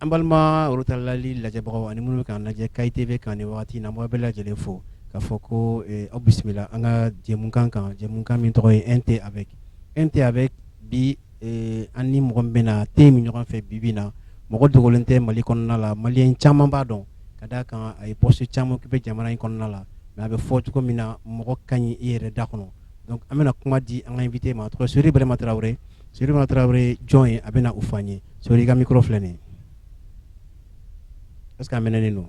An balima worotɛlali lajɛbagaw ani minnu bɛ k'an lajɛ Kayes TV kan nin waati in na n b'aw bɛɛ lajɛlen fo k'a fɔ ko aw bisimila an ka jɛmukan kan jɛmukan min tɔgɔ ye un thé avec un thé avec bi Ee an ni mɔgɔ bɛna na te min ɲɔgɔn fɛ bi bi in na mɔgɔ dogolen tɛ mali kɔnɔna la maliyɛn caman b'a dɔn ka d'a kan a ye poste caman kɛ jamana in kɔnɔna la mɛ a bɛ fɔ cogo min na mɔgɔ ka ɲi i yɛrɛ da kɔnɔ an bɛna kuma di invité ma tɔgɔ sori ibrahima tarawele sori ibrahima tarawele jɔn ye a bɛna o fɔ an ye so i ka mi filɛ nin ye parce que minɛen don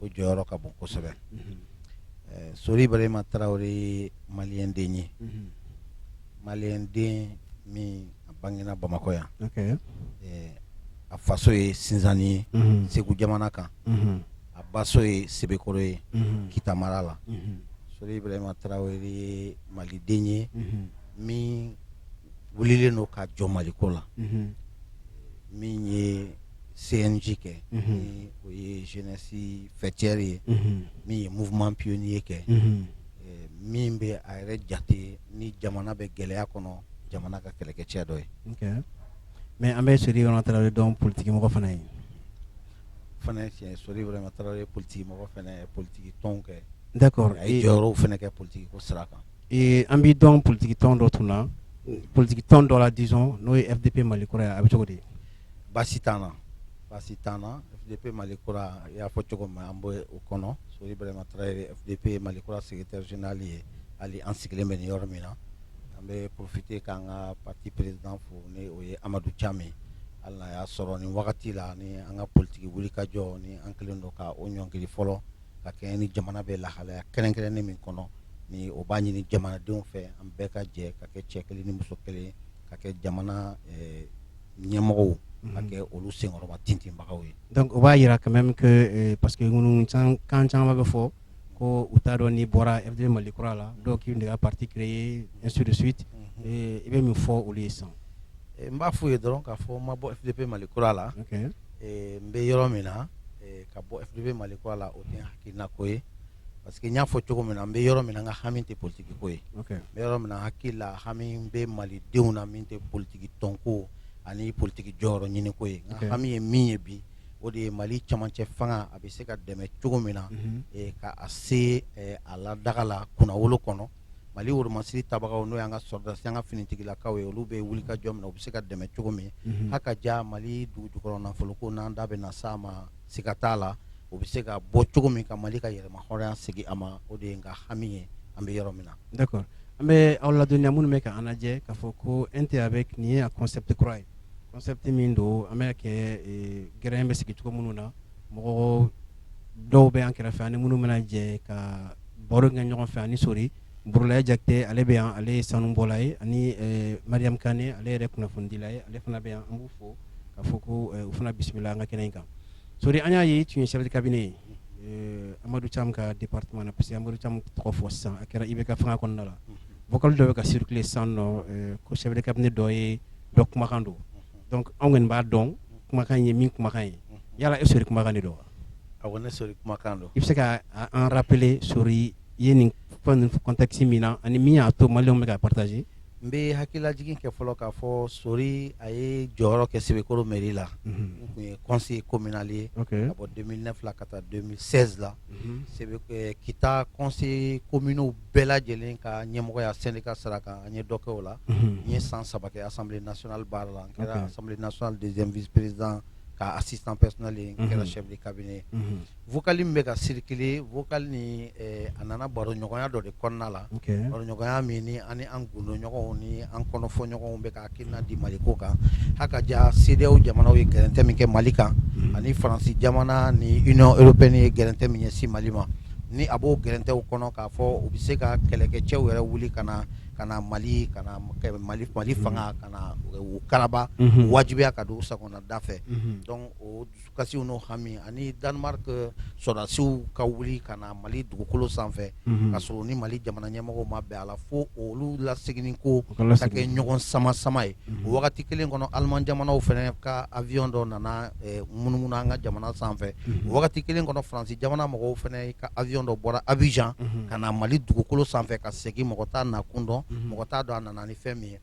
o jɔyɔrɔ ka bon kosɛbɛ sori ibrahima tarawele ye maliyɛnden ye maliyɛnden min a bangera bamakɔ yan a faso ye sinsanni ye segu jamana kan a baso ye sebekɔrɔ ye kita mara la sori ibrahima tarawele ye maliden ye min wulilen don ka jɔ maliko la min ye sɛji kɛ o ye jsi fɛcɛri ye min ye mouvement pionnier kɛ min bɛ a yɛrɛ jate ni jamana bɛ gɛlɛya kɔnɔ jamana ka kɛlɛkɛcɛ dɔ ye mɛ an bɛ sori tarawele dɔn politigimɔgɔ fana ye fana sori tarawele politigi mɔgɔ politigi tɔn kɛ n kɔrɔ a ye jɔyɔrɔw fana kɛ politigi ko sira kan an b'a dɔn politigi tɔn dɔ tun na politigi tɔn dɔ la disons n'o ye FDP mali kura ye a bɛ cogo de ye baasi t'a la baasi t'a la FDP mali kura i y'a fɔ cogo min an b'o kɔnɔ sori ibrahima FDP mali kura secrétaire général ye hali an sigilen bɛ yɔrɔ min na an bɛ porofite k'an ka parti président fo ni o ye amadu cam ye ala y'a sɔrɔ nin wagati la ni an ka politigi wuli ka jɔ ni an kelen don ka o ɲɔngiri fɔlɔ ka kɛ ni jamana bɛ lahalaya kɛrɛnkɛrɛnnen min kɔnɔ ni o b'a ɲini jamanadenw fɛ an bɛɛ ka jɛ ka kɛ cɛ kelen ni muso kelen ka kɛ jamana ɲɛmɔgɔ ka kɛ olu senkɔrɔmatintinbagaw ye donc o b'a jira quand même que parce que ŋunukan caman bɛ fɔ ko u t'a dɔn n'i bɔra FDP mali kura la dɔw k'i de parti créer ainsi de suite i bɛ min fɔ olu ye sa n b'a fɔ u ye dɔrɔn k'a fɔ n ma bɔ FDP mali kura la n bɛ yɔrɔ min na ka bɔ FDP mali kura la o tɛ n hakilinako ye parce que n y'a fɔ cogo min na n bɛ yɔrɔ min na n ka hami tɛ politigi ko ye n bɛ yɔrɔ min na hakili la hami bɛ malidenw na min tɛ politigi tɔnko ani politigi jɔyɔrɔ ɲini ko ye n ka hami ye min ye bi o de ye mali camancɛ fanga a bɛ se ka dɛmɛ cogo min na mhm. eh, ka a se eh, a la daga la kunnawolo kɔnɔ mali woromasiri tabagaw n'o y'an ka sɔrɔdasi an ka finitigilakaw ye olu bɛ wuli ka jɔ min na u bɛ se ka dɛmɛ cogo min mhm. haka ja mali dugu jukɔrɔ nafoloko n'an da bɛna s'a ma siga t'a la o bɛ se ka bɔ cogo min ka mali ka yɛrɛmahɔrɔnya segin a ma o de ye n ka hami ye an bɛ yɔrɔ min na d'accord an bɛ aw ladɔnniya minnu bɛ ka an lajɛ k'a fɔ ko e tɛ a bɛ nin ye concept kura ye concept min don an bɛ kɛ gɛrɛ in bɛ sigi cogo minnu na mɔgɔ dɔw bɛ an kɛrɛfɛ ani minnu bɛna jɛ ka baro kɛ ɲɔgɔn fɛ ani sori burulayi jakite ale bɛ yan ale ye sanubɔla ye ani mariyamu kɔnɛ ale yɛrɛ kunnafonidila ye ale fana bɛ yan an b'a fɔ k'a fɔ ko u fana bisimila an ka kɛnɛ in kan sori an y'a ye i tun ye chef de cabinet ye amadu camu ka département na parce que amadu camu tɔgɔ fɔ san a kɛra IBK fanga kɔnɔna la vocal dɔ bɛ ka circuler sisan ko chef de cabinet dɔ ye dɔ kumakan don anw kɔni b'a dɔn kumakan ye min kumakan ye yala e sori kumakan de don a ne sori kumakan don i bɛ se ka a fɔ sori i ye nin contexte min na ani min y'a to malienw bɛ ka partager n bɛ hakilila jigin kɛ fɔlɔ k'a fɔ sori a ye jɔyɔrɔ kɛ sebekɔrɔ mɛri la tun ye kɔnsi kominali ye ka bɔ den fila ka taa don sɛri la kita kɔnse kominiw bɛɛ lajɛlen ka ɲɛmɔgɔya seli ka sara kan an ye dɔ kɛ o la n ye san saba as natina baara la an kɛra as nas dezprizd k'a sisanpsli kɛra sɛri kabini ye vocal min bɛ ka circuler vocal nin a nana baroɲɔgɔnya dɔ de kɔnɔna la baroɲɔgɔnya min ani an gundoɲɔgɔnw ni an kɔnɔfɔɲɔgɔnw bɛ ka hakilina di mali ko kan ha ka ja sedeyawo jamanaw ye gɛrɛntɛ min kɛ mali kan ani faransi jamana ni union européenne ye gɛrɛntɛ min ɲɛsin mali ma ni a b'o gɛrɛntɛw kɔnɔ k'a fɔ o bɛ se ka kɛlɛkɛcɛw yɛrɛ wuli ka na ka mali ka mali mali fanga ka u karaba u wajibiya ka don u sago da fɛ o kasi n'o hami ani danemark sɔrɔdasiw ka wuli ka na mali dugukolo sanfɛ ka sɔrɔ ni mali jamana ɲɛmɔgɔw ma bɛn a la fo olu laseginni ko kɛ ɲɔgɔn sama sama ye o wagati kelen kɔnɔ aleman jamanaw fana ka awiyɔn dɔ nana munumunu an ka jamana sanfɛ o wagati kelen kɔnɔ faransi jamana mɔgɔw fana ka awiyɔn dɔ bɔra abijan ka na mali dugukolo sanfɛ ka segin mɔgɔ t'a nakun dɔn mɔgɔ t'a dɔn a nana ni fɛn min ye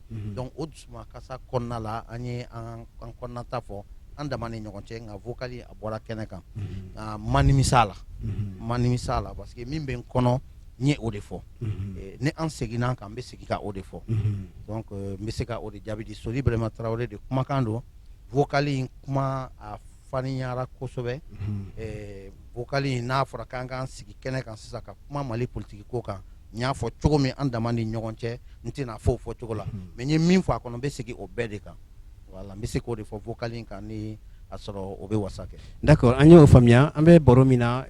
Kasa kɔnɔna la an ye an kɔnɔnata fɔ an dama ni ɲɔgɔn cɛ nka vocal a bɔra kɛnɛ kan n ma nimisa a la n ma nimisa a la parce que min bɛ n kɔnɔ n ye o de fɔ ni an seginna a kan n bɛ segin ka o de fɔ donc n bɛ se ka o de jaabi di sori burɛhima tarawele de kumakan don vocal in kuma a fanyara kosɛbɛ vocal in n'a fɔra k'an k'an sigi kɛnɛ kan sisan ka kuma mali politiki ko kan n y'a fɔ cogo min an dama ni ɲɔgɔn cɛ n tɛna o fɔ fɔ cogo la mais n ye min fɔ a kɔnɔ n bɛ segin o bɛɛ de kan wala n bɛ se k'o de fɔ vocal kan n'i a sɔrɔ o bɛ wasa kɛ d'accord an y'o faamuya an bɛ baro min na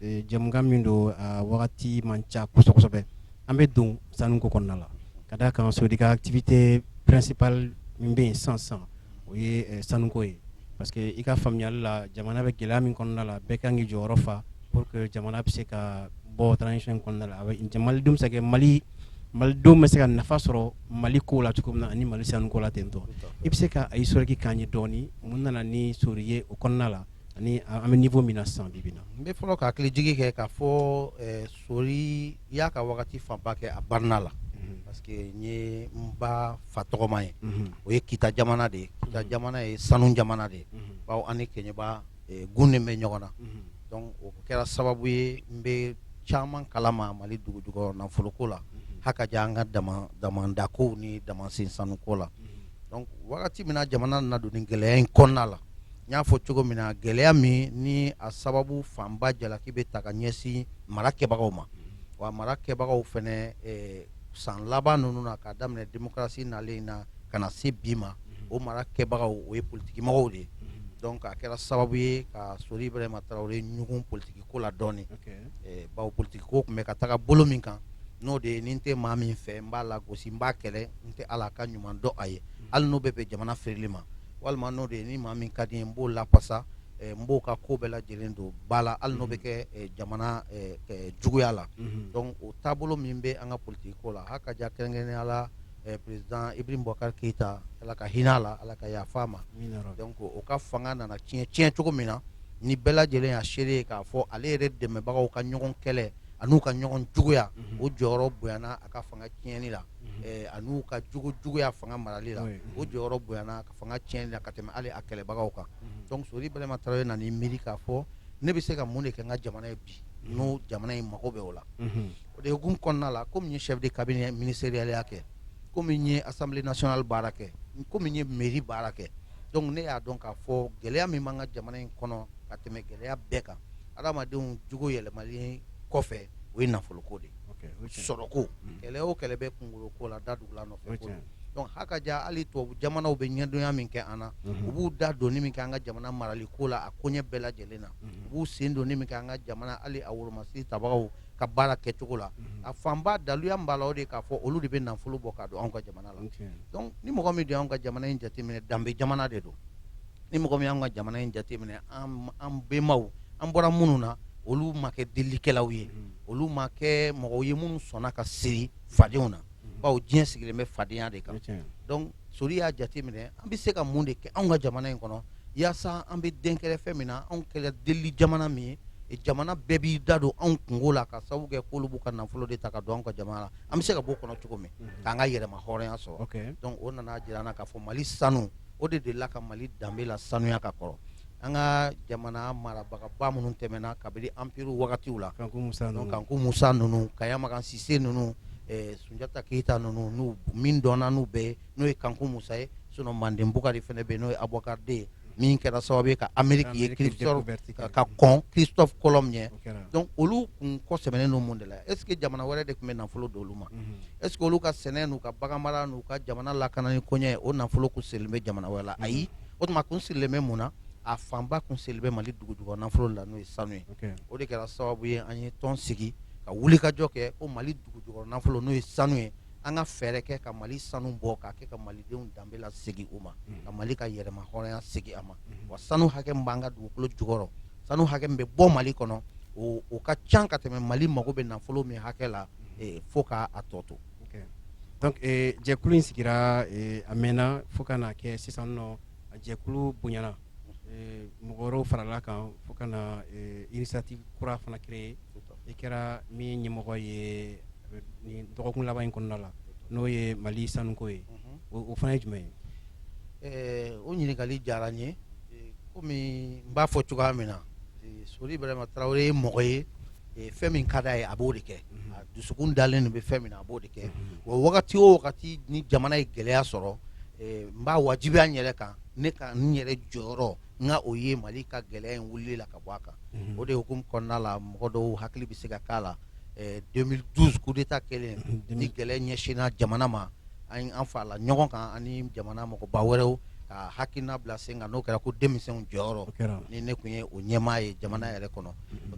jɛmukan min don a wagati man ca kosɛbɛ an bɛ don sanu ko kɔnɔna la ka da a kan sori ka activité principale min bɛ yen san san o ye sanuko ye parce que i ka faamuyali la jamana bɛ gɛlɛya min kɔnɔna la bɛɛ ka kan k'i jɔyɔrɔ fa pour que jamana bɛ se ka bɔ transition in kɔnɔna la jamanadenw bɛ se ka Mali Malidenw bɛ se ka nafa sɔrɔ Mali ko la cogo min na ani Mali sanu ko la tantôt i bɛ se ka a historique k'an ye dɔɔnin mun nana ni sori ye o kɔnɔna la ani an bɛ niveau min na sisan bi bi in na n bɛ fɔlɔ ka hakili jigin kɛ k'a fɔ ɛ sori y'a ka wagati fanba kɛ a barina la parce que n ye n ba fa tɔgɔma ye o ye kita jamana de ye kita jamana ye sanu jamana de ye bawo an ni keɲeba kun bɛ ɲɔgɔn na donc o kɛra sababu ye n bɛ caman kalama mali dugu jukɔrɔ nafoloko la ha ka ja an ka damanda ko ni damansen sanu ko la donc wagati min na jamana na don nin gɛlɛya in kɔnɔna la n y'a fɔ cogo min na gɛlɛya min ni a sababu fanba jalaki bɛ ta ka ɲɛsin mara kɛbagaw ma wa mara kɛbagaw fana san laban ninnu na k'a daminɛ démocratie nalen in na ka na se bi ma o mara kɛbagaw o ye politigimɔgɔw de ye donc a kɛra sababu ye ka sori ibrahima tarawele ɲugun politigi ko la dɔɔnin bawo politigi ko tun bɛ ka taga bolo min kan n'o de ye ni n tɛ maa min fɛ n b'a lagosi n b'a kɛlɛ n tɛ ala ka ɲuman dɔn a ye hali n'o bɛ bɛn jamana firili ma walima n'o de ye ni maa min ka di n ye n b'o lafasa n b'o ka ko bɛɛ lajɛlen don ba la hali n'o bɛ kɛ jamana juguya la donc o taabolo min bɛ an ka politigi ko la ha ka ja kɛrɛnkɛrɛnya la président ibrahim bubakari keyita ala ka hinɛ a la ala ka yafa a ma donc o ka fanga nana tiɲɛ tiɲɛ cogo min na ni bɛɛ lajɛlen y'a seere ye k'a fɔ ale yɛrɛ dɛmɛbagaw ka ɲɔgɔn kɛlɛ ani'u ka ɲɔgɔn juguya o jɔyɔrɔ bonyana a ka fanga tiɲɛni la ani'u ka jogo juguya fanga marali la o jɔyɔrɔ bonyana a ka fanga tiɲɛni la ka tɛmɛ ale a kɛlɛbagaw kan donc sori ibrahima tarawele nana miiri k'a fɔ ne bɛ se ka mun de kɛ n ka jamana ye bi n'o jamana in mago bɛ o la O de hukumu kɔnɔna la comme n ye chef de cabinet ministeriel ya kɛ comme n ye assemblee nationale baara kɛ comme n ye mairie baara kɛ donc ne y'a dɔn k'a fɔ gɛlɛya min b'an ka jamana in kɔnɔ ka tɛmɛ gɛlɛya bɛɛ kan adamadenw jogo yɛlɛmalen kɔfɛ o ye nafolo ko de ye, ok, sɔrɔ ko, kɛlɛ o kɛlɛ bɛ kunkolo ko la da tugulan nɔfɛ ko don, donc ha ka ja hali tubabu jamanaw bɛ ɲɛdonya min kɛ an na, unhun, u b'u da donni min kɛ an ka jamana marali ko la a koɲɛ bɛɛ lajɛlen na, unhun, u b'u sen donni min kɛ an ka jamana hali a woromasiri tabagaw ka baara kɛ cogo la a fanba daluya b'a la o de k'a fɔ olu de bɛ nafolo bɔ ka don anw ka jamana la dɔnku ni mɔgɔ min anw ka jamana in jateminɛ danbe jamana de don ni mɔgɔ min anw ka jamana in jateminɛ an benbaw an bɔra minnu na olu ma kɛ delikɛlaw ye olu ma kɛ mɔgɔ ye minnu sɔnna ka siri fadenw na bawo diɲɛ sigilen bɛ fadenya de kan dɔnku sori y'a jateminɛ an bɛ se ka mun de kɛ anw ka jamana in kɔnɔ walasa an bɛ denigire fɛn min na anw kɛla delili jamana min ye jamana bɛɛ b'i da don anw kunko la ka sababu kɛ ko olu b'u ka nafolo de ta ka don an ka jamana la an bɛ se ka bɔ o kɔnɔ cogo min k'an ka yɛrɛmahɔrɔnya sɔrɔ dɔnku o nana jira an na k'a fɔ mali sanu o de delila ka mali danbe lasanuya ka kɔrɔ an ka jamana marabagaba minnu tɛmɛna kabini anpiri wagati la kanku musa ninnu kayamakan sise ninnu sunjata keyita ninnu min dɔnna n'u bɛɛ n'o ye kanku musa ye sinɔ manden bukari fana bɛ n'o ye abubakari de ye min kɛra sababu ye ka ameriki ye ka kɔn kirisitɔfu kolɔn ɲɛ dɔnku olu tun kɔ sɛmɛnen mun de la ɛsi jamana wɛrɛ de tun bɛ nafolo don olu ma ɛsi olu ka sɛnɛ n'u ka bagan mara n'u ka jamana lakanani kɛ o nafolo tun sirilen bɛ jamana wɛrɛ la ayi o tuma kun sirilen bɛ mun na a fanba kun sirilen bɛ mali dugu jukɔrɔ nafolo la n'o ye sanu ye o de kɛra sababu ye an ye tɔn sigi ka wulikajɔ kɛ o mali dugu jukɔrɔ nafolo n'o ye sanu ye an ka fɛɛrɛ kɛ ka mali sanu bɔ ka kɛ ka malidenw danbe lasegin u ma mm. ka mali ka yɛrɛmahɔrɔnya segin a ma mm. wa sanu hakɛ b'an ka dugukolo jukɔrɔ sanu hakɛ min bɛ bɔ mali kɔnɔ o ka ca ka tɛmɛ mali mago bɛ nafolo min hakɛ la mm. eh, fo k'a tɔ to dɔnku jɛkulu in sigira eh, a mɛnna fo ka na kɛ sisan nɔ a jɛkulu bonyana mɔgɔw farala a kan fo ka na inisiyatifu kura fana kɛra i kɛra min ɲɛmɔgɔ ye dɔgɔkun laban in kɔnɔna la n'o ye mali sanuko ye o fana ye jumɛn ye o ɲininkali diyara n ye kɔmi n b'a fɔ cogoya min na sori birahima tarawele ye mɔgɔ ye fɛn min ka di a ye a b'o de kɛ a dusukun dalen bɛ fɛn min a b'o de kɛ wa wagati o wagati ni jamana ye gɛlɛya sɔrɔ n b'a wajibiya n yɛrɛ kan ne ka n yɛrɛ jɔyɔrɔ n ka o ye mali ka gɛlɛya in wuli la ka bɔ a kan o de hukumu kɔnɔna la mɔgɔ dɔw hakili bɛ se ka k'a la demili duzi kudeta kɛlen ni gɛlɛya ɲɛsinna jamana ma an farala ɲɔgɔn kan ani jamana mɔgɔba wɛrɛw ka hakilina bila sen kan n'o kɛra ko denmisɛnw jɔyɔrɔ ne tun ye o ɲɛmaa ye jamana yɛrɛ kɔnɔ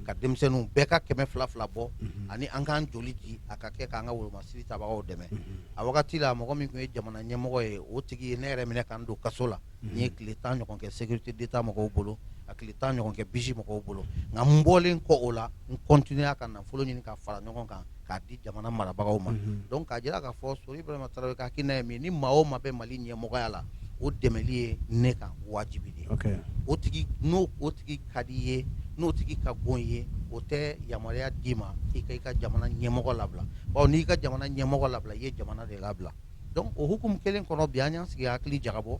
ka denmisɛnninw bɛɛ ka kɛmɛ fila fila bɔ ani an k'an joli di a ka kɛ k'an ka wolomasiri tabagaw dɛmɛ a wagati la mɔgɔ min tun ye jamana ɲɛmɔgɔ ye o tigi ye ne yɛrɛ minɛ ka n don kaso la n ye tile tan ɲɔgɔn kɛ sekirite deta mɔgɔw bolo a tile tan ɲɔgɔn kɛ biji mɔgɔw bolo nka n bɔlen kɔ o la n kɔntiniyera ka nafolo ɲini ka fara ɲɔgɔn kan k'a di jamana marabagaw ma donc k'a jira k'a fɔ sori ibrahima tarawele ka hakilina ye min ni maa o maa bɛ mali ɲɛmɔgɔya la o dɛmɛli ye ne kan wajibi de ye o tigi n'o o tigi ka di i ye n'o tigi ka go i ye o tɛ yamaruya d'i ma i ka i ka jamana ɲɛmɔgɔ labila bawo n'i ka jamana ɲɛmɔgɔ labila i ye jamana de labila donc o hukumu kelen kɔnɔ bi an y'an sigi hakili jagabɔ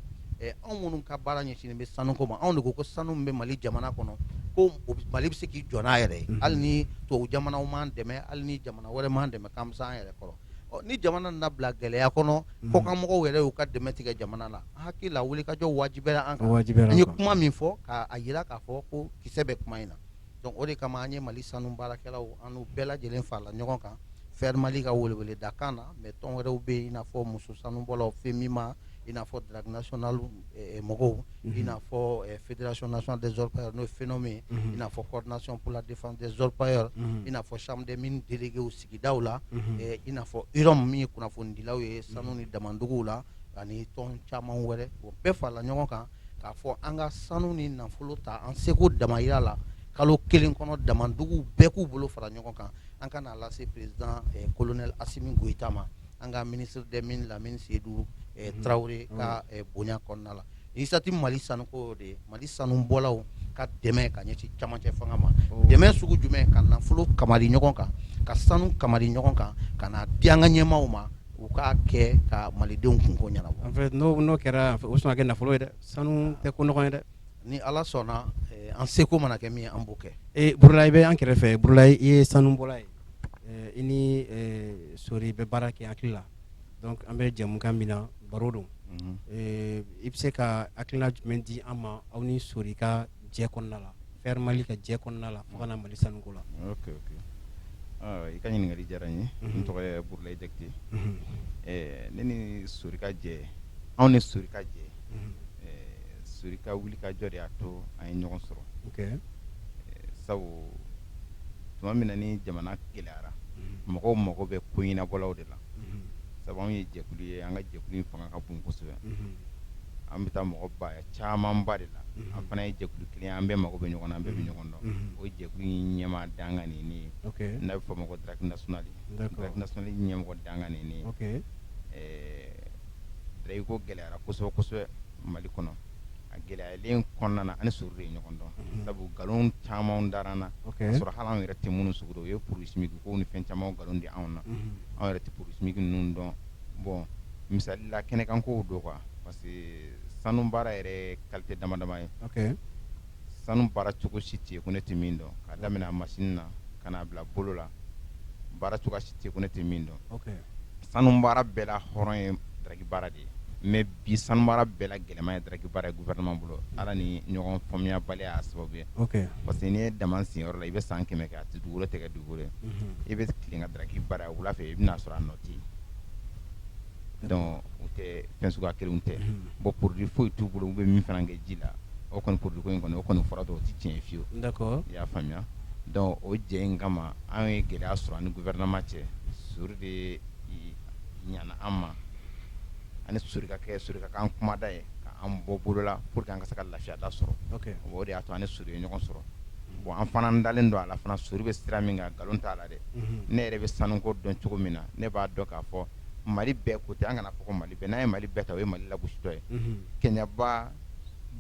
anw minnu ka baara ɲɛsinnen bɛ sanu ko ma anw de ko ko sanu bɛ mali jamana kɔnɔ ko mali bɛ se k'i jɔ n'a yɛrɛ ye hali ni tɔ jamanaw m'a dɛmɛ hali ni jamana wɛrɛ m'a dɛmɛ k'an bɛ s'an yɛrɛ kɔrɔ ni jamana na bila gɛlɛya kɔnɔ kɔkanmɔgɔw yɛrɛ y'u ka dɛmɛ tigɛ jamana la hakili la wulikajɔ wajibiyara a ye kuma min fɔ k'a jira k'a fɔ ko kisɛ bɛ kuma in na donc o de kama an ye mali sanu baarakɛlaw an bɛɛ lajɛlen farala ɲɔgɔn kan fer mali ka weleweleda kan na mais tɔn wɛrɛw bɛ yen n'a fɔ muso sanubɔlaw femima i n'a fɔ drague national mɔgɔw i n'a fɔ fédération nationale des orpailleurs n'o fenom ye i n'a fɔ coordination pour la défense des orpailleurs i n'a fɔ chambre des mines déléguéw sigidaw la i n'a fɔ yɔrɔ minnu min ye kunnafonidilaw ye sanu ni damanduguw la ani tɔn caman wɛrɛ o bɛɛ farala ɲɔgɔn kan k'a fɔ an ka sanu ni nafolo ta an seko damajira la kalo kelen kɔnɔ damanduguw bɛɛ k'u bolo fara ɲɔgɔn kan an ka n'a lase peresidan kolonɛli asimi goyita ma an ka ministre des mines lamini seyidu tarawele ka bonya kɔnɔna la initiative mali sanuko de mali sanu bɔlaw ka dɛmɛ ka ɲɛsin cɛmancɛ fanga ma dɛmɛ sugu jumɛn ka nafolo kamari ɲɔgɔn kan ka sanu kamari ɲɔgɔn kan ka n'a di an ka ɲɛmaaw ma u k'a kɛ ka malidenw kunko ɲɛnabɔ en fait n'o n'o kɛra o sɔn kɛ nafolo ye dɛ sanu tɛ ko nɔgɔ ye dɛ ni ala sɔnna an seko mana kɛ min ye an b'o kɛ burulayi i bɛ an kɛrɛfɛ burulayi i ye sanubɔla ye i ni sori bɛ baara kɛ hakili la donc an bɛ jɛmukan min na baro don i bɛ se ka hakilina jumɛn di an ma aw ni sori ka jɛ kɔnɔna la FER Mali ka jɛ kɔnɔna la fo ka na Mali sanu ko la. Ok ok aa i ka ɲininkali diyara n ye. N tɔgɔ ye Burulayi Jakite. Ɛɛ ne ni Sori ka jɛ anw ni Sori ka jɛ ɛɛ Sori ka wulikajɔ de y'a to an ye ɲɔgɔn sɔrɔ. Ok ɛɛ sabu tuma min na ni jamana gɛlɛyara mɔgɔw mago bɛ ko ɲɛnabɔlaw de la. sabu an ye jɛkulu ye an ka jɛkulu fanga ka bon kosɛbɛ an bɛ taa mɔgɔ ba caman ba de la an fana ye jɛkulu kelen an bɛɛ mako bɛ ɲɔgɔn na an bɛɛ bɛ ɲɔgɔn dɔn o jɛkulu in ɲɛmaa dankan nin ne ye n'a bɛ fɔ a ma ko drague national drague national ɲɛmɔgɔ dankan nin ne ye drague ko gɛlɛyara kosɛbɛ kosɛbɛ mali kɔnɔ a gɛlɛyalen kɔnɔna na an ni sori ye ɲɔgɔn dɔn sabu nkalon caman dara an na sɔrɔ hali an yɛrɛ tɛ minnu sugu dɔ ye produit chimique kow ni fɛn caman nkalon di anw na anw yɛrɛ tɛ produit chimique ninnu dɔn bon misali la kɛnɛ kan ko dɔw kan parce que sanu baara yɛrɛ kalite dama dama ye sanu baara cogo si tɛ yen ko ne tɛ min dɔn ka daminɛ a masin na ka n'a bila bolo la baara cogoya si tɛ yen ko ne tɛ min dɔn, ok, sanu baara bɛɛ la hɔrɔn ye daraki baara de ye mais bi sanu baara bɛɛ la gɛlɛman ye daraki baara ye gouvernement bolo Ala ni ɲɔgɔn faamuyabaliya y'a sababu ye, ok, parce que n'i ye daman sen yɔrɔ la i bɛ san kɛmɛ kɛ a tɛ dugukolo tɛ kɛ dugukolo ye, unhun, i bɛ tilen ka daraki baara wula fɛ i bɛna sɔrɔ a nɔ tɛ yen donc u tɛ fɛn suguya kelen tɛ bon produit foyi t'u bolo u bɛ min fana kɛ ji la o kɔni produit in kɔnɔ o kɔni fara dɔw tɛ tiɲɛɲɛ fiye i y'a faamuya donc o jɛ in kama an ye gɛlɛya sɔrɔ an ni gouvernement cɛ sori de nana an ma ani sokɛ kɛ surkakan kumada ye k'an bɔ bolola pour que an ka se ka lafiyada sɔrɔ o de y'a to an ni sori ye ɲɔgɔn sɔrɔ bon an fana dalen don a la fana sori bɛ sira min kan nkalon t'a la dɛ ne yɛrɛ bɛ sanuko dɔn cogo min na ne b'a dɔn k'a fɔ mali bɛɛ ko tɛ an kana fɔ mali bɛɛ n'a ye mali bɛɛ ta ye mali latɔ ye kɛɲɛba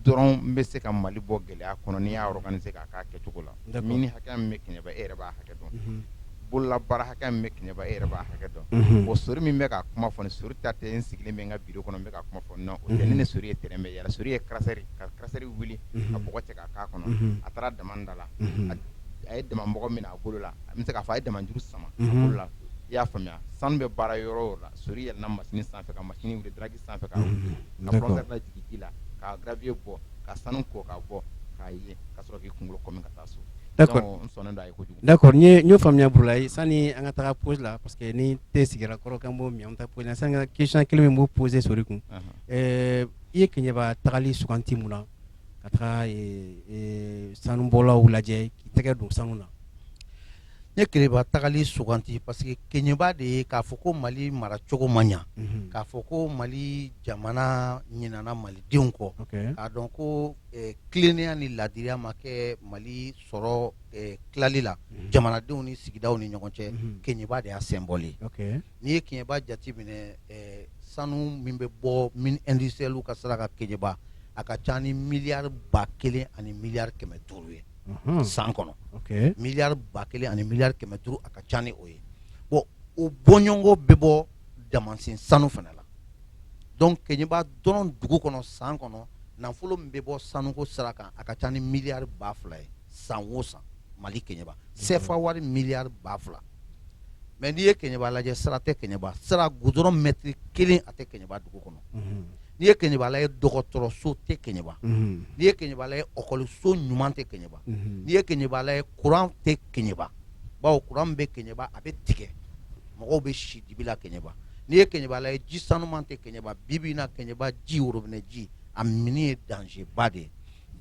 dɔrɔn bɛ se ka mali bɔ gɛlɛya kɔnɔ n'i y'a organiser k'a kɛ kɛcogo la nka mine hakɛ min bɛ kɛɲɛba e b'a hakɛ dɔn bolola baara hakɛ min bɛ kɛɲɛba e b'a hakɛ dɔn o sori min bɛ ka kuma fɔ ni sori ta tɛ n sigilen min ka bureau kɔnɔ bɛ ka kuma fɔ nɔ o ni s ye tɛnɛn bɛ yɛrɛ sori ye karisari ka karisari wuli ka mɔgɔ cɛ k'a kɔnɔ a taara damanda la a ye daman mɔgɔ min a bolo la a bɛ se k'a fɔ a ye daman juru sama la i y'a faamuya sanu bɛ baara yɔrɔ o yɔrɔ la sori yɛlɛnna machine sanfɛ ka machine wuli daraki sanfɛ ka wuli ka compresseur lajigin ji la ka gravier bɔ ka sanu ko ka bɔ k'a ye ka sɔrɔ k'i kunkolo kɔmi ka taa so d'accord donc n sɔnnen don a ye kojugu d'accord n ye n y'o faamuya Burulayi sani an ka taga pause la parce que ni thé sigira kɔrɔ k'an b'o min an bɛ taa pause la sani ka question kelen min b'o poser sori kun ɛɛ i ye Keɲeba tagali suganti mun na ka taga ee ee sanubɔlaw lajɛ k'i tɛgɛ don sanu na ne keɲɛba tagali suganti parce que keɲɛba de ye k'a fɔ ko mali mara cogo ma ɲɛ k'a fɔ ko mali jamana ɲinana malidenw kɔ k'a dɔn ko tilennenya ni laadiya ma kɛ mali sɔrɔ tilali la jamanadenw ni sigidaw ni ɲɔgɔn cɛ keɲɛba de y'a symbole ye n'i ye keɲɛba jate minɛ sanu min bɛ bɔ mine industrielle ka sira kan keɲɛba a ka ca ni milliard ba kelen ani milliard kɛmɛ duuru ye san kɔnɔ milliard ba kelen ani milliard kɛmɛ duuru a ka ca ni o ye bon o bɔɲɔgɔnko bɛ bɔ damansen sanu fana la donc keɲɛba dɔrɔn dugu kɔnɔ san kɔnɔ nafolo min bɛ bɔ sanuko sira kan a ka ca ni milliard ba fila ye san o san mali kɛɲɛba sefa wari milliard ba fila mais n'i ye kɛɲɛba lajɛ sira tɛ kɛɲɛba sira goudron mɛtiri kelen a tɛ kɛɲɛba dugu kɔnɔ n'i ye kɛɲɛba lajɛ dɔgɔtɔrɔso tɛ kɛɲɛba n'i ye kɛɲɛba lajɛ ekɔliso ɲuman tɛ kɛɲɛba n'i ye kɛɲɛba lajɛ kuran tɛ kɛɲɛba bawo kuran bɛ kɛɲɛba a bɛ tigɛ mɔgɔw bɛ si dibi la kɛɲɛba n'i ye kɛɲɛba lajɛ ji sanuman tɛ kɛɲɛba bi bi in na kɛɲɛba ji worobinɛ ji a minni ye danger ba de ye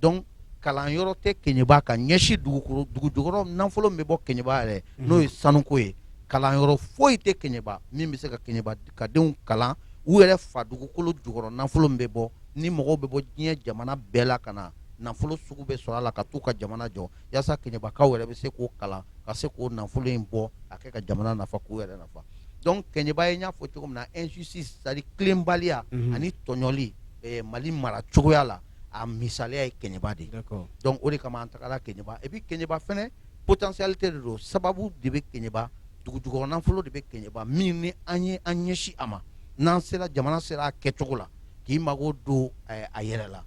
donc kalan yɔrɔ tɛ kɛɲɛba ka ɲɛsin dugu dugu jukɔrɔ nafolo bɛ bɔ kɛɲɛba yɛrɛ n'o ye sanuko ye kalan yɔrɔ foyi tɛ kɛɲɛba min bɛ se ka kɛɲɛba ka denw kalan u yɛrɛ fa dugukolo jukɔrɔ nafolo bɛ bɔ ni mɔgɔw bɛ bɔ diɲɛ jamana bɛɛ la ka na nafolo sugu bɛɛ sɔrɔ a la ka taa u ka jamana jɔ walasa kɛɲɛbakaw yɛrɛ bɛ se k'o kalan ka se k'o nafolo in bɔ a kɛ ka jamana nafa k'u yɛrɛ nafa donc kɛɲɛba ye i y'a fɔ cogo min na injustice ani tilenbaliya ani tɔɲɔli mali mara cogoya la a misaliya ye kɛɲɛba de donc o de kama an tagara kɛɲɛba et puis kɛɲɛba fana potentialité de don sababu de bɛ kɛɲɛba dugu jukɔrɔ nafolo de bɛ kɛɲɛba min ni an ye an ɲɛsin a ma n'an sera jamana sera a kɛcogo la k'i mago don a yɛrɛ la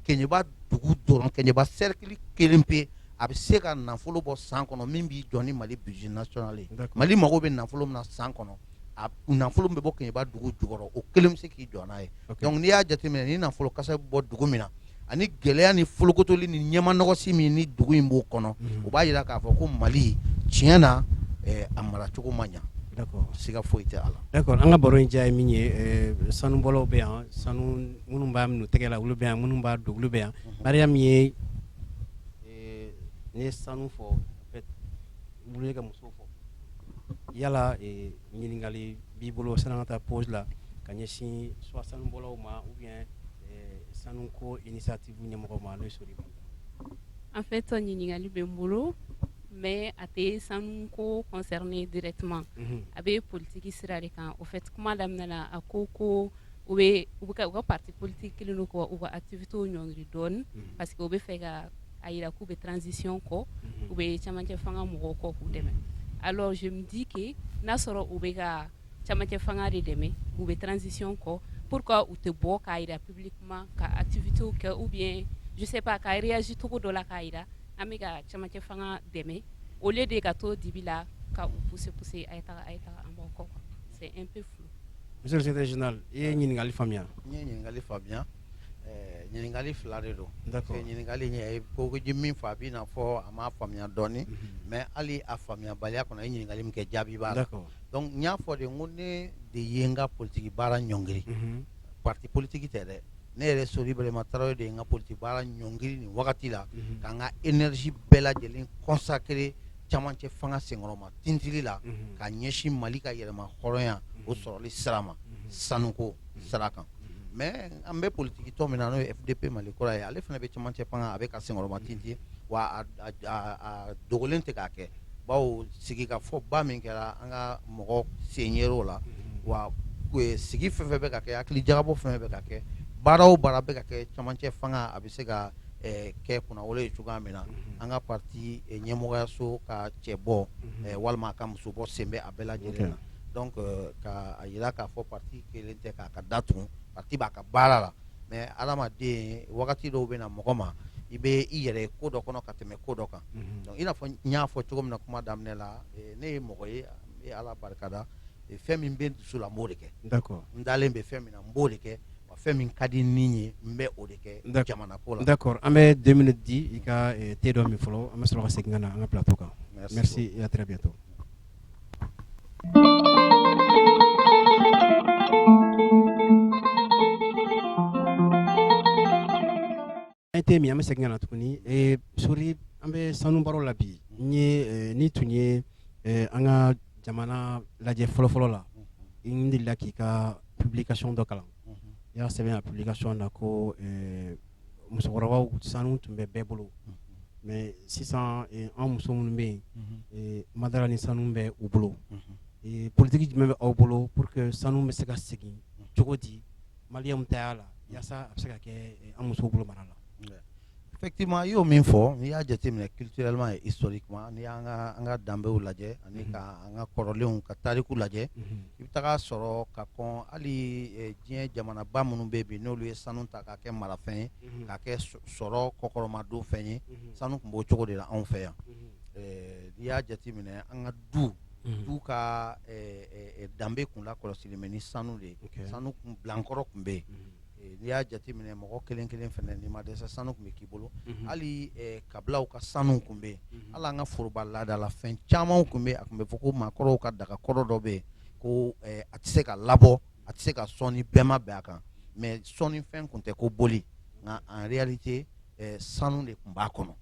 kɛɲɛba dugu dɔrɔn kɛɲɛba sɛrɛkili kelen pe a bɛ se ka nafolo bɔ san kɔnɔ min b'i jɔ ni mali budget national ye mali mago bɛ nafolo min na san kɔnɔ a nafolo bɛ bɔ kɛɲɛba dugu jukɔrɔ o kelen bɛ se k'i jɔ n'a ye donc n'i y'a jateminɛ ni nafolo kasabi bɛ bɔ dugu min na ani gɛlɛya ni folokotoli ni ɲɛmanɔgɔsi min ni dugu in b'o kɔnɔ o b'a jira k'a fɔ ko mali tiɲɛ na a maracogo ma ɲɛ siga foyi t'a la d'accord an ka baro in diya ye min ye sanubɔlaw bɛ yan sanu minnu b'a minnu tɛgɛ la olu bɛ yan minnu b'a dugu bɛ yan ha min ye n ye sanu fɔ ka muso Yala ɲininkali b'i bolo sanni an ka taa pause la ka ɲɛsin soit sanubɔlaw ma ou bien sanu ko initiative ɲɛmɔgɔ ma en fait ɲininkali bɛ n bolo mais a tɛ sanu ko concerner directement a bɛ politigi sira de kan o fɛ kuma daminɛ na a ko ko u bɛ u ka parti politique kelen kɔ u ka activité ɲɔn dɔɔnini parce que u b'a fɛ ka a jira k'u bɛ transition kɔ u bɛ camancɛ fanga mɔgɔw kɔ k'u dɛmɛ alors je me dis que n'a sɔrɔ u bɛ ka camancɛ fanga de dɛmɛ u bɛ transition kɔ pourquoi u tɛ bɔ k'a jira publiquement ka activité kɛ ou bien je sais pas ka réagir cogo dɔ la k'a jira an bɛ ka camancɛ fanga dɛmɛ au lieu de ka to dibi la ka pousser pousser a kɔ i ye ɲininkali faamuya Ɲininkali fila de don ɲininkali ye ko ju min fɔ a bɛ i n'a fɔ a m'a faamuya dɔɔnin mais hali a faamuyabaliya kɔnɔ a ye ɲininkali min kɛ jaabi b'a la donc n y'a fɔ de ko ne de ye n ka politigi baara ɲɔngiri parti politigi tɛ dɛ ne yɛrɛ sori birama tarawele de ye n ka politigi baara ɲɔngiri nin wagati la ka n ka énergie bɛɛ lajɛlen consacrer camancɛ fanga senkɔrɔma tintili la ka ɲɛsin mali ka yɛrɛmahɔrɔnya o sɔrɔli sira ma sanuko sara kan mais an bɛ politique tɔn min na n'o ye FDP Mali kura ye ale fana bɛ cɛmancɛ fanga a bɛ k'a senkɔrɔma tintin wa a dogolen tɛ k'a kɛ bawo sigikafɔba min kɛra an ka mɔgɔ sen yer'o la wa sigi fɛn o fɛn bɛ ka kɛ hakili jagabɔ fɛn o fɛn bɛ ka kɛ baara o baara bɛ ka kɛ cɛmancɛ fanga a bɛ se ka kɛ kunnawolo ye cogoya min na an ka parti ɲɛmɔgɔyaso ka cɛbɔ walima a ka musobɔ sen bɛ a bɛɛ lajɛlen na donc k'a jira k'a fɔ parti kɛlen tɛ k'a ka da tugu parti b'a ka baara la mais adamaden wagati dɔw bɛ na mɔgɔ ma i bɛ i yɛrɛ ko dɔ kɔnɔ ka tɛmɛ ko dɔ kan donc i n'a fɔ n y'a fɔ cogo min na kuma daminɛ la ne ye mɔgɔ ye n bɛ ala barika da fɛn min bɛ n dusu la n b'o de kɛ n dalen bɛ fɛn min na n b'o de kɛ wa fɛn min ka di n ye n bɛ o de kɛ n jamana ko la d'accord an bɛ deux minutes di i ka te dɔ min fɔlɔ an bɛ sɔrɔ ka segin ka na an ka plateau kan merci à très bientôt Te min an bɛ segin ka na tuguni sori an bɛ sanu baro la bi n'i tun ye an ka jamana lajɛ fɔlɔfɔlɔ la n delila k'i ka publication dɔ kalan i y'a sɛbɛn a publication na ko musokɔrɔbaw sanu tun bɛ bɛɛ bolo mais sisan an muso minnu bɛ yen n ma da a la ni sanu bɛ u bolo politique jumɛn bɛ aw bolo pour que sanu bɛ se ka segin cogo di maliens taya la walasa a bɛ se ka kɛ an musow bolo mara la effectivement i y'o min fɔ n'i y'a jateminɛ culturellement et historiquement n'i y'an ka danbew lajɛ ani an ka kɔrɔlenw ka tariku lajɛ i bɛ taga a sɔrɔ ka kɔn hali diɲɛ jamanaba minnu bɛ bi n'olu ye sanu ta k'a kɛ marafɛn ye k'a kɛ sɔrɔ kɔkɔrɔmadon fɛn ye sanu tun b'o cogo de la anw fɛ yan n'i y'a jate minɛ an ka du du ka danbe kun lakɔlɔsilen bɛ ni sanu de ye sanu bilankɔrɔ tun bɛ yen n'i y'a jateminɛ mɔgɔ kelen kelen fana n'i ma dɛsɛ sanu tun bɛ k'i bolo hali kabilaw ka sanu tun bɛ yen ala an ka foroba laada la fɛn caman tun bɛ a tun bɛ fɔ ko maakɔrɔw ka daga kɔrɔ dɔ bɛ yen ko a tɛ se ka labɔ a tɛ se ka sɔn ni bɛɛ ma bɛn a kan mais sɔnni fɛn tun tɛ ko boli nka en réalité sanu de tun b'a kɔnɔ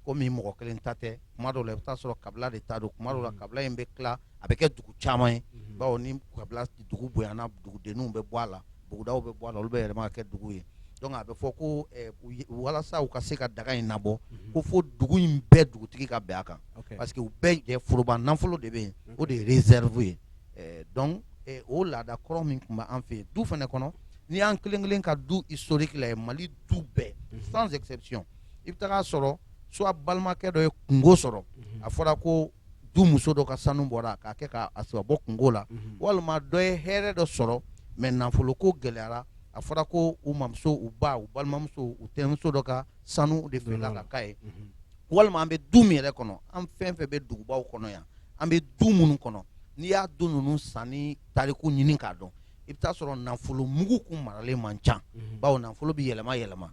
ko min mɔgɔ kelen ta tɛ kuma dɔw la i bɛ t'a sɔrɔ kabila de ta don kuma dɔ la kabila in bɛ tila a bɛ kɛ dugu caman ye bawo ni kabila dugu bonyana dugudenw bɛ bɔ a la bugudaw bɛ bɔ a la olu bɛ yɛlɛma ka kɛ dugu ye donc a bɛ fɔ ko ɛ u ye walasa u ka se ka daga in nabɔ ko fo dugu in bɛɛ dugutigi ka bɛn a kan ok parce que u bɛɛ jɛ foroba nafolo de bɛ yen o de ye réserve ye ɛ donc ɛ o laada kɔrɔ min tun bɛ an fɛ yen du fana kɔnɔ n'i y'an kelen kelen ka du historique lajɛ Mali du bɛɛ sans exception i bɛ taga a sɔrɔ soit balimakɛ dɔ ye kungo sɔrɔ a fɔra ko du muso dɔ ka sanu bɔra k'a kɛ k'a a sɔrɔ bɔ kunko la unhun walima dɔ ye hɛrɛ dɔ sɔrɔ mais nafolo ko gɛlɛyara a fɔra ko u mamuso u ba u balimamuso u tɛnɛmuso dɔ ka sanu de feerela ka k'a ye unhun walima an bɛ du min yɛrɛ kɔnɔ an fɛn fɛn bɛ dugubaw kɔnɔ yan an bɛ du minnu kɔnɔ n'i y'a du ninnu sanni tariku ɲini k'a dɔn i bɛ taa a sɔrɔ nafolo mugu tun maralen man ca bawo nafolo bɛ yɛlɛma yɛlɛma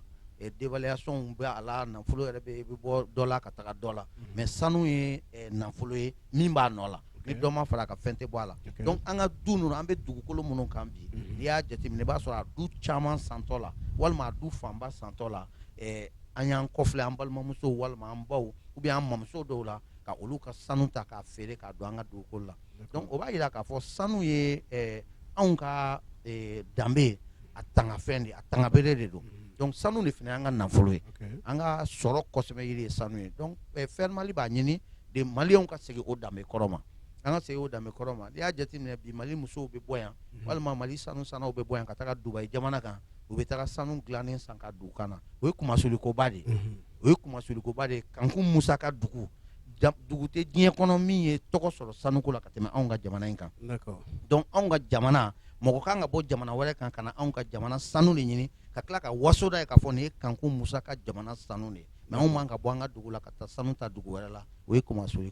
dévaluation bɛ a la nafolo yɛrɛ bɛ bɔ dɔ la ka taga dɔ la mais sanu ye nafolo ye min b'a nɔ la ni dɔ ma fara a kan fɛn tɛ bɔ a la donc an ka du ninnu an bɛ dugukolo minnu kan bi n'i y'a jate minɛ i b'a sɔrɔ a du caman santɔ la walima a du fanba santɔ la an y'an kɔ filɛ an balimamuso walima an baw ou bien an mamuso dɔw la ka olu ka sanu ta k'a feere k'a don an ka dugukolo la donc o b'a jira k'a fɔ sanu ye anw ka danbe ye a tangafɛn de a tanga bere de don sanu de fana an ka nafolo ye an ka sɔrɔ ko sɛmɛjiri ye sanu ye donc FER mali b'a ɲini de maliɛnw ka segin o danbe kɔrɔ ma an ka segin o danbe kɔrɔ ma i y'a jate minɛ bi mali musow bɛ bɔ yan walima mali sanu sannaw bɛ bɔ yan ka taa dubai jamana kan u bɛ taa sanu dilanen san k'a don u kan na o ye kunmasuli koba de ye o ye kunmasuli koba de ye kankun musa ka dugu dugu tɛ diɲɛ kɔnɔ min ye tɔgɔ sɔrɔ sanu ko la ka tɛmɛ anw ka jamana in kan donc anw ka jamana mɔgɔ ka kan ka bɔ jamana wɛrɛ kan ka na anw ka jamana sanu de ɲini ka tila ka wasoda ye ka fɔ nin ye kankun musa ka jamana sanu de ye mais anw ka bɔ an ka dugu la ka taa sanu ta dugu wɛrɛ la o ye kunmasuli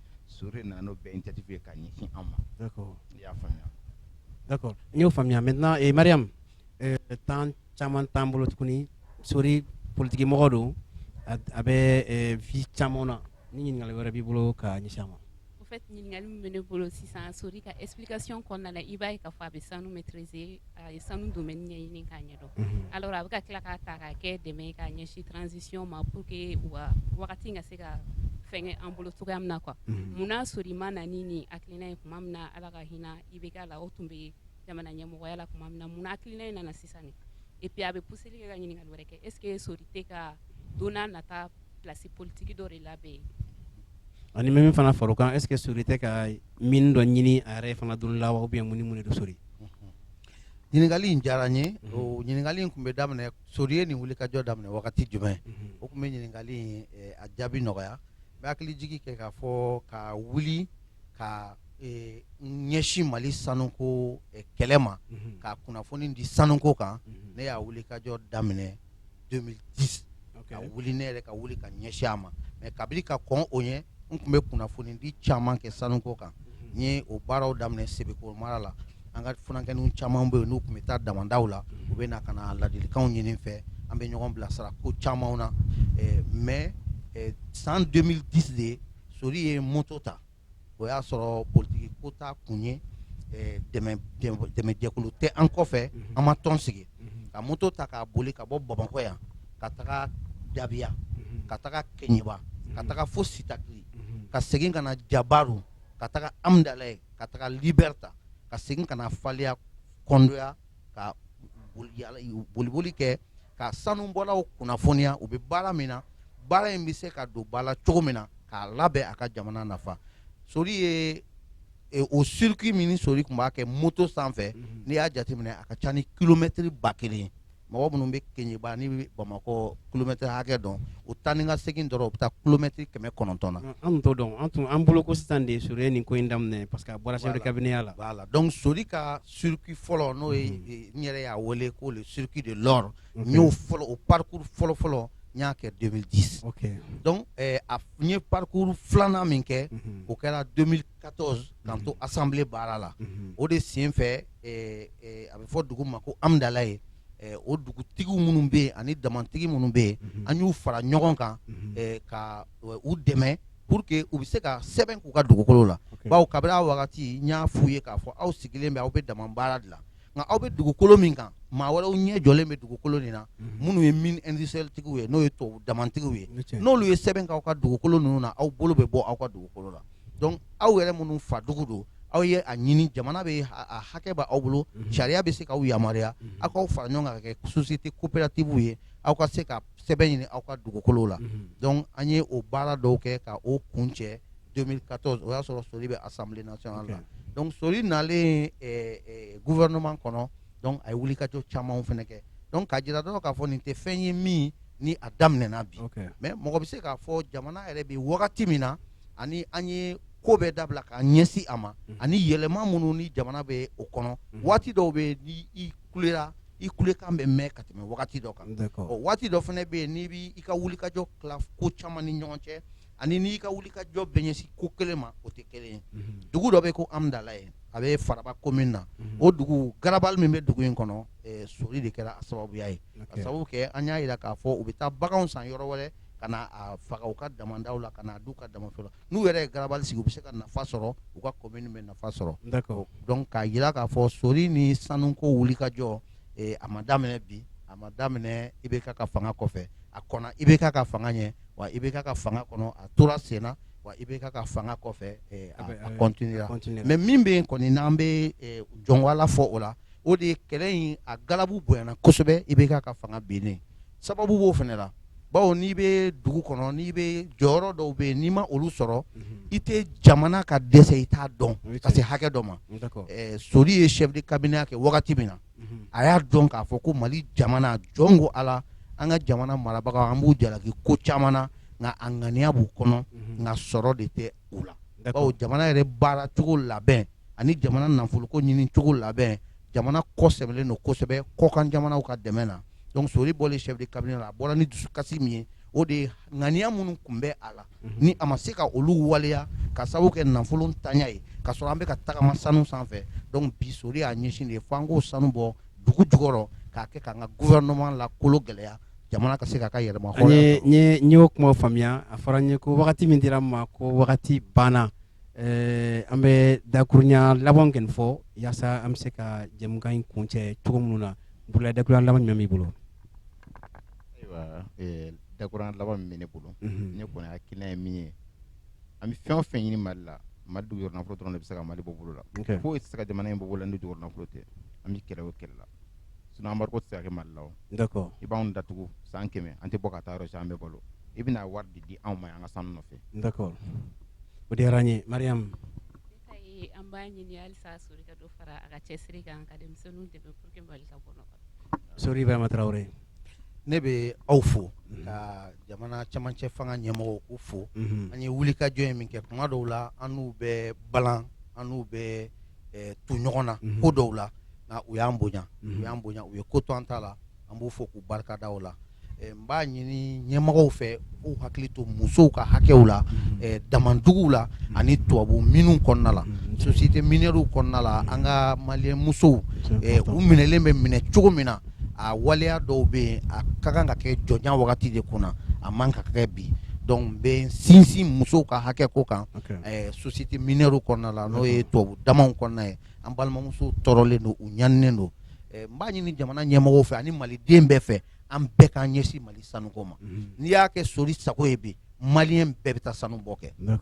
so nana n'o bɛn jate ye ka ɲɛsin an ma y'a faamuya n y'o faamuya maintenant mariam temps caman t'an bolo tuguni sori politigimɔgɔ don a bɛ vi caman na ni ɲininkali wɛrɛ b'i bolo ka ɲɛsin a ma ɲininkali bɛ ne bolo sisan sori ka explication kɔnɔna i b'a k'a fɔ a bɛ sanu maîtriser A ye sanu domaine ɲɛɲini k'a ɲɛdɔn alors a bɛ ka tila k'a ta ka kɛ dɛmɛ k'a ɲɛsin transition ma pour que wa wagati ka se ka fɛn an bolo cogoya min na ko munna sori ma na ni nin hakilina ye tuma min na ala ka hinɛ IBK la o tun bɛ jamana ɲɛmɔgɔya la tuma min na munna hakilina in nana sisan et puis a bɛ pousser ka ɲininkali wɛrɛ kɛ est-ce que sori tɛ ka don nata plasi politigi dɔ de labɛn yen ani min fana fara o kan est-ce que sori tɛ ka mine dɔ ɲini a yɛrɛ fana don la wa o bɛ mununi minɛ don sori ɲininkali in diyara n ye o ɲininkali in tun bɛ daminɛ sori ye nin wulikajɔ daminɛ wagati jumɛn o tun bɛ ɲininkali in a jaabi nɔgɔya bɛ hakilijigin kɛ k'a fɔ ka wuli ka ɲɛsin mali sanuko kɛlɛ ma ka kunnafoni di sanuko kan ne y'a wulikajɔ daminɛ 2010 ka wuli ne yɛrɛ ka wuli ka ɲɛsin a ma mɛ kabini ka kɔn o ɲɛ n tun bɛ kunnafoni di caman kɛ sanuko kan n ye o baaraw daminɛ sebekɔrɔ mara la an ka funankɛninw caman bɛ yen n'u tun bɛ taa damandaw la u bɛ na ka na ladilikanw ɲini n fɛ an bɛ ɲɔgɔn bilasira ko caman na mɛ san 2010 de sori ye moto ta o y'a sɔrɔ politiki ko t'a kun ye dɛmɛjɛkulu tɛ an kɔfɛ an ma tɔn sigi ka moto ta k'a boli ka bɔ bamakɔ yan ka taga dabiya ka taga kɛɲɛba ka taga fo sitakili ka segin ka na jabaru ka taga amdalaye ka taga libɛrta ka segin ka na faliya kɔndoya ka boliboli kɛ ka sanubɔlaw kunnafoniya u bɛ baara min na baara in bɛ se ka don ba la cogo min na k'a labɛn a ka jamana nafa sori ye o circuit min sori tun b'a kɛ moto sanfɛ n'i y'a jateminɛ a ka ca ni kilomɛtiri ba kelen mɔgɔ minnu bɛ kɛɲɛba ni bamakɔ kilomɛtiri hakɛ dɔn o taa ni ka segin dɔrɔn o bɛ taa kilomɛtiri kɛmɛ kɔnɔntɔn na an dɔn an tun an bolo ko sisan de ye sori ye nin ko in daminɛ parce que bɔra kabiniya la b'a la dɔn so ka circuit fɔlɔ n'o ye mhm. eh, n yɛrɛ y'a wele ko le circuit de l'or n y'o fɔlɔ o parcours fɔlɔ fɔlɔ n y'a kɛ 2010 donc eh, a n ye parcours filanan min kɛ mhm. o kɛra 2014 k'an mhm. to assemblée baara la o de sen fɛ eh, a bɛ fɔ dugu ma ko amdalaye o dugutigiw minnu bɛ yen ani damantigi minnu bɛ yen an y'u fara ɲɔgɔn kan ka u dɛmɛ pour que u bɛ se ka sɛbɛn k'u ka dugukolo la bawo kabini wagati n y'a f'u ye k'a fɔ aw sigilen bɛ aw bɛ daman baara de la nka aw bɛ dugukolo min kan maa wɛrɛw ɲɛ jɔlen bɛ dugukolo nin na minnu ye minitigiw ye n'o ye to damantigi ye n'olu ye sɛbɛn k'aw ka dugukolo ninnu na aw bolo bɛ bɔ aw ka dugukolo la aw yɛrɛ minnu fa dugu don aw ye a ɲini jamana bɛ hakɛ b' aw bolo sariya bɛ se k'aw yamaruya aw k'aw fara ɲɔgɔn kan ka kɛ société coopérative ye aw ka se sɛbɛn ɲini aw ka dugukolo la donc an ye o baara dɔw kɛ ka o kuncɛ 2014 o y'a sɔrɔ sori bɛ assemblée nationale la donc sori nalen gouvernement kɔnɔ donc a ye wulikajɔ caman fana kɛ donc ka jira dɔrɔn k'a fɔ nin tɛ fɛn ye min ni a daminɛna bi mɛ mɔgɔ bɛ se k'a fɔ jamana yɛrɛ bɛ wagati min na ani an ye ko bɛɛ dabila k'an ɲɛsin a ma ani yɛlɛma minnu ni jamana bɛ o kɔnɔ waati dɔw bɛ kulera i kulekan bɛ mɛn ka tɛmɛ wagati dɔ kan waati dɔ fana bɛ yen n'i b' i ka wulikajɔ tila ko caman ni ɲɔgɔn cɛ ani n'i ka wulikajɔ bɛ ɲɛsin ko kelen ma o tɛ kelen ye dugu dɔ bɛ ko amdalaye a bɛ faraba komini na o dugu garabali min bɛ dugu in kɔnɔ sori de kɛra a sababuya ye a sababu kɛ an y'a jira k'a fɔ u bɛ taa baganw san yɔrɔ wɛrɛ ka na a faga u ka damandaw la ka na a dun u ka damanda la n'u yɛrɛ ye garabali sigi u bɛ se ka nafa sɔrɔ u ka commune bɛ nafa sɔrɔ d'accord donc k'a jira k'a fɔ sori ni sanuko wulikajɔ eh, a ma daminɛ bi a ma daminɛ IBK ka fanga kɔfɛ a kɔnna IBK ka fanga ɲɛ wa IBK ka fanga kɔnɔ a tora sen na wa IBK ka fanga kɔfɛ eh, a, a continuera continuera. mais min bɛ yen kɔni n'an bɛ eh, jɔnwala fɔ o la o de ye kɛlɛ in a galabu bonyana kosɛbɛ IBK ka fanga binnen sababu b'o fana la bawo n'i bɛ dugu kɔnɔ n'i bɛ jɔyɔrɔ dɔw bɛ yen n'i ma olu sɔrɔ i tɛ jamana ka dɛsɛ i t'a dɔn ka se hakɛ dɔ ma sori ye chef de cabinet ya kɛ wagati min na a y'a dɔn k'a fɔ ko mali jamana jɔn ko ala an ka jamana marabagaw an b'u jalaki ko caman na nka a ŋaniya b'u kɔnɔ nka sɔrɔ de tɛ u la bawo jamana yɛrɛ baaracogo labɛn ani jamana nafoloko ɲini cogo labɛn jamana kɔ sɛmɛlen don kosɛbɛ kɔkan jamanaw ka dɛmɛ na sori bɔlen chef de cabinet a bɔra ni dusu kasi min ye o de ye ŋaniya minnu tun bɛ a la ni a ma se ka olu waleya ka sababu kɛ nafolontanya ye ka sɔrɔ an bɛ ka tagama sanu sanfɛ bi sori y'a ɲɛsin de ye fo an k'o sanu bɔ dugu jukɔrɔ k'a kɛ k'an ka gouvernement la kolo gɛlɛya jamana ka se ka ka yɛlɛma kuma faamuya a fɔra n ye ko wagati min dira ma k'o wagati banna Ɛɛ an bɛ dakurunɲa laban kɔni fɔ walasa an bɛ se ka jɛmukan in kuncɛ cogo minnu na bolola dakurunɲa laban jumɛn b'i bolo dakurunɲa laban min bɛ ne bolo ne kɔni hakilina ye min ye an bɛ fɛn o fɛn ɲini mali la mali dugujukɔrɔ nafolo dɔrɔn de bɛ se ka mali bɔ bolo la foyi tɛ se ka jamana in bɔ bolo la ni dugujukɔrɔ nafolo tɛ an bɛ kɛlɛ o kɛlɛ la sinon embargo tɛ se ka kɛ Mali la o, d'accord i b'anw datugu san 100 an tɛ bɔ ka taa yɔrɔ jan an bɛ balo i bɛna wari de di anw ma an ka sanu nɔfɛ, d'accord o diyara an ye Mariam an b'a ɲini halisa Sori ka dɔ fara a ka cɛsiri kan ka denmisɛnninw dɛmɛ pour que Mali ka bɔ nɔgɔ la, Sori Ibrahima Traore ne bɛ aw fo ka jamana cɛmancɛ fanga ɲɛmɔgɔw k'u fo, unhun, an ye wulikajɔ in min kɛ tuma dɔw la an n'u bɛ balan an n'u bɛ tu ɲɔgɔn na ko dɔw la u y'an bonya u y'an bonya u ye ko to an ta la an b'u fo k'u barika da la n b'a ɲini ɲɛmɔgɔw fɛ u hakili to musow ka hakɛw la daman duguw la ani tubabu mines kɔnɔna la sociétés minières kɔnɔna la an ka malien musow u minɛlen bɛ minɛ cogo min na a waleya dɔw bɛ yen a ka kan ka kɛ jɔnya wagati de kunna a man kan ka kɛ bi donc n bɛ sinsin musow ka hakɛ ko kan société minière kɔnɔna la n'o ye tubabu damanw kɔnɔna ye an balimamusow tɔɔrɔlen don u ɲaninen don n b'a ɲini jamana ɲɛmɔgɔw fɛ ani maliden bɛɛ fɛ an bɛɛ k'an ɲɛsin mali sanu ko ma n'i y'a kɛ sori sago ye bi malien bɛɛ bɛ taa sanu bɔ kɛ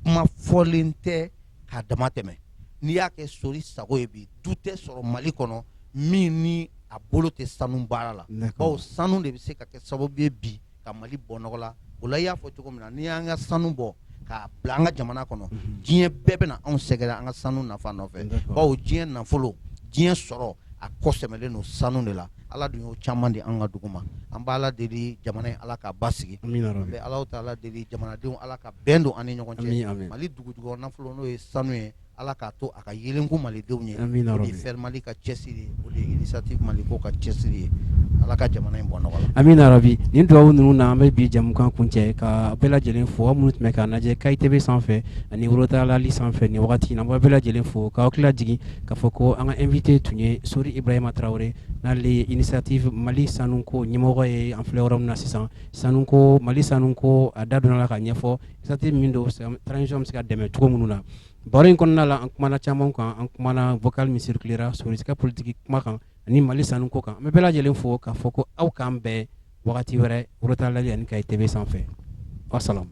kuma fɔlen tɛ ka dama tɛmɛ n'i y'a kɛ sori sago ye bi du tɛ sɔrɔ mali kɔnɔ min ni a bolo tɛ sanu baara la baw sanu de bɛ se ka kɛ sababu ye bi ka mali bɔ nɔgɔ la o la i y'a fɔ cogo min na n'i y'an ka sanu bɔ k'a bila an ka jamana kɔnɔ diɲɛ bɛɛ bɛna anw sɛgɛrɛ an ka sanu nafa nɔfɛ bawo diɲɛ nafolo diɲɛ sɔrɔ a kɔ sɛmɛlen don sanu de la ala dun y'o caman di an ka dugu ma an bɛ ala deli jamana ye ala k'a basigi Amina ya rabi. an bɛ ala taala deli jamanadenw ala ka bɛn don an ni ɲɔgɔn cɛ amina. mali dugujukɔrɔ nafolo n'o ye sanu ye Ala k'a to a ka yeelen bɔ malidenw ye FER mali ka cɛsiri initiative mali ko ka cɛsiri ye ala ka jamana in bɔ nɔgɔ amina ya rabi nin dugawu ninnu na an bɛ bi jamukan kuncɛ ka bɛɛ lajɛlen fo minnu tun bɛ k'an lajɛ kayi TV sanfɛ ani worotaalali sanfɛ nin wagati in na an bɛ bɛɛ lajɛlen fo k'aw hakili jigin k'a fɔ ko an ka invité tun ye sori ibrahima tarawele n'ale ye initiative mali sanuko ɲɛmɔgɔ ye an filɛ yɔrɔ min na sisan sanu ko mali sanu ko a da donna a la k'a ɲɛfɔ Initiative min don sisan bɛ se k'a dɛmɛ cogo minnu na baro in kɔnɔna la an kumana caman kan an kumana vocal min circulera sosiri ka politigi kuma kan ani mali sanu ko kan an bɛ bɛɛ lajɛlen fo k'a fɔ ko aw k'an bɛn wagati wɛrɛ worotaalali ani kayi TV sanfɛ wasalamu